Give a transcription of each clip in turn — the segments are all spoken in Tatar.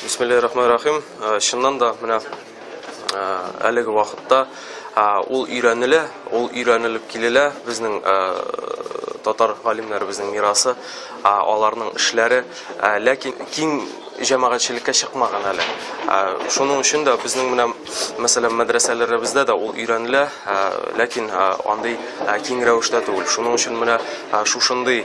Бисмиллахи рахмани рахим. Э, чыннан да менә э, әлеге вакытта э, ул өйрәнелә, ул өйрәнелеп килелә безнең татар галимнәребезнең мирасы, аларның эшләре, ләкин киң җәмәгатьчелеккә чыкмаган әле. Шуның өчен дә безнең менә мәсәлән мәдрәсәләребездә дә ул өйрәнелә, ләкин андый киң рәвештә түгел. Шуның өчен менә шушындый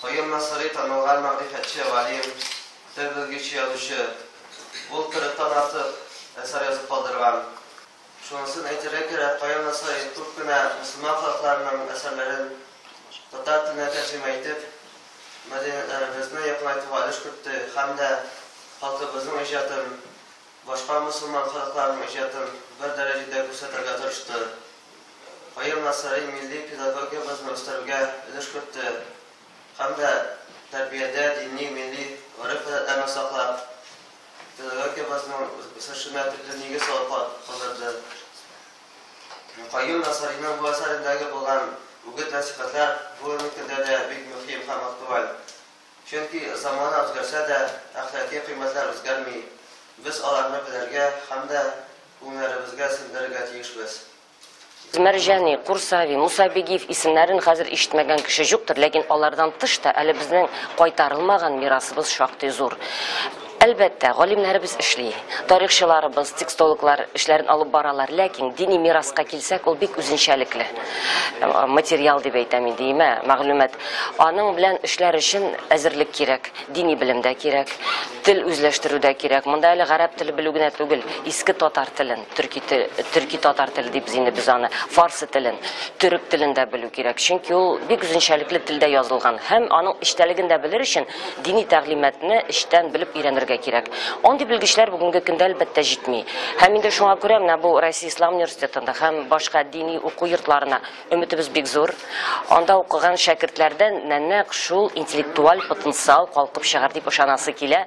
Каюм Насыйри танылган мәгърифәтче, галим, тел белгече, язучы. Ул кырыктан артык әсәр язып калдырган. Шунысын әйтергә кирәк, Каюм Насыйри күп кенә мөселман халыкларының әсәрләрен татар теленә тәрҗемә итеп, мәдәниятләребезне якынайтуга өлеш кертте һәм дә халкыбызның иҗатын, башка мөселман халыкларының иҗатын бер дәрәҗәдә күрсәтергә тырышты. Каен Насыйри милли педагогиябезне үстерүгә өлеш кертте һәм дә тәрбиядә дини, милли гореф-гадәтләрне саклап, педагогиябезнең үсешенә төпле нигез салып калдырды. Каюм Насыйриның бу әсәрендәге булган үгет-нәсыйхәтләр бүгенге көндә дә бик мөһим һәм актуаль. Чөнки замана үзгәрсә дә, әхлакый кыйммәтләр үзгәрми. Без аларны белергә һәм дә күңелләребезгә сеңдерергә тиешбез. Мәрҗани, Курсави, Муса Бигиев исемнәрен хәзер ишетмәгән кеше җуктыр, ләкин алардан тыш та әле безнең кайтарылмаган мирасыбыз шактый зур. Әлбәттә, галимнәребез эшли, тарихчыларыбыз, текстологлар эшләрен алып баралар, ләкин дини мираска килсәк, ул бик үзенчәлекле материал дип әйтәм инде, имә, мәгълүмат. Аның белән эшләр өчен әзерлек кирәк, дини белем дә кирәк, тел үзләштерү дә кирәк. Монда әле гарәп теле белү генә түгел, иске татар телен, төрки тел, төрки-татар теле дибез инде без аны, фарсы телен, төрек телен дә белү кирәк, чөнки ул бик үзенчәлекле телдә язылган һәм аның эчтәлеген дә белер өчен, Дини тәгълиматны эчтән белеп өйрәнергә кирәк. Андый белгечләр бүгенге көндә әлбәттә җитми. Һәм инде шуңа күрә менә бу Россия Ислам университетында һәм башка дини уку йортларына өметебез бик зур. Анда укыган шәкертләрдән нәнәк шул интеллектуаль потенциал калкып чыгар дип ышанасы килә.